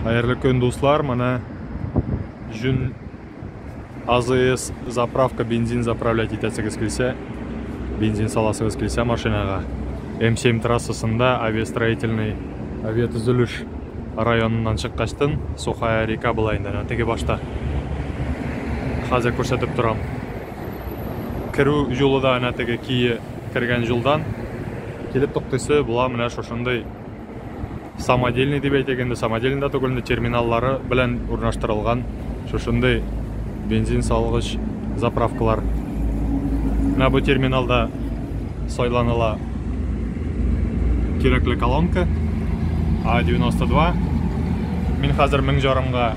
Хәерле көн, дуслар. Менә җүн АЗС заправка бензин заправлять итәсегез килсә, бензин саласыгыз килсә машинага. М7 трассасында авиастроительный авиатөзелеш районыннан чыккачтын, Сухая река була инде, әнә теге башта. Хәзер күрсәтеп торам. Керү юлы да әнә теге кие кергән юлдан килеп туктыйсы була менә шушындый самодельный дип әйтик инде самодельный да түгел терминаллары белән урнаштырылган шушындый бензин салгыч заправкалар менә бу терминалда сайланыла кирәкле колонка а 92 мин хәзер мең жарымга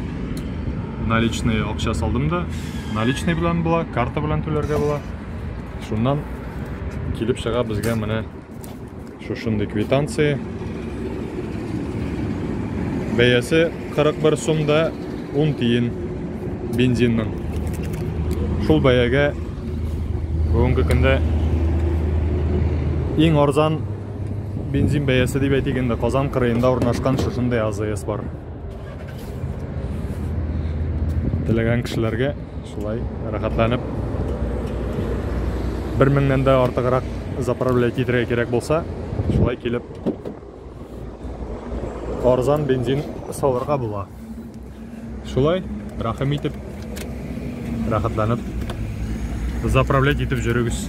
наличный акча салдым да наличный белән була карта белән түләргә була шуннан килеп чыга безгә менә Шушындый квитанция. Бәясе 41 сум да 10 тиен бензинның. Шул бәягә бүгенге көндә иң арзан бензин бәясе дип әйтик инде Казан кырыенда урнашкан шушындый АЗС бар. Теләгән кешеләргә шулай рәхәтләнеп 1000-нән дә артыграк заправлять итәргә кирәк булса, шулай килеп арзан бензин салырга була. Шулай рәхим итеп рәхәтләнеп заправлять итеп җөрегез.